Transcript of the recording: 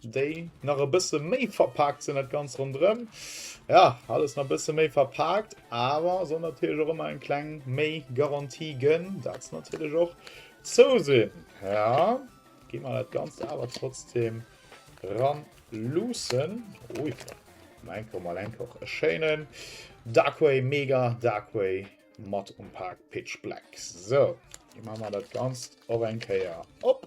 Déi nach e bësse méi verpaakt sinn, dat ganz ronderëm. Ja, alles nach e bësse méi verpaakt, awer soll natierlech och ëmmer eng kleng méi Garantie gënn. Dat natierlech och zou sinn. Ja, gi mer dat ganz awer trotzdem ran luussen. Ui, Malenko, Malenko, e schéinen Darkway, mega Darkway mat um Pack Pitch Black. So, gi mer mal dat Ganzt och eng Kéier op.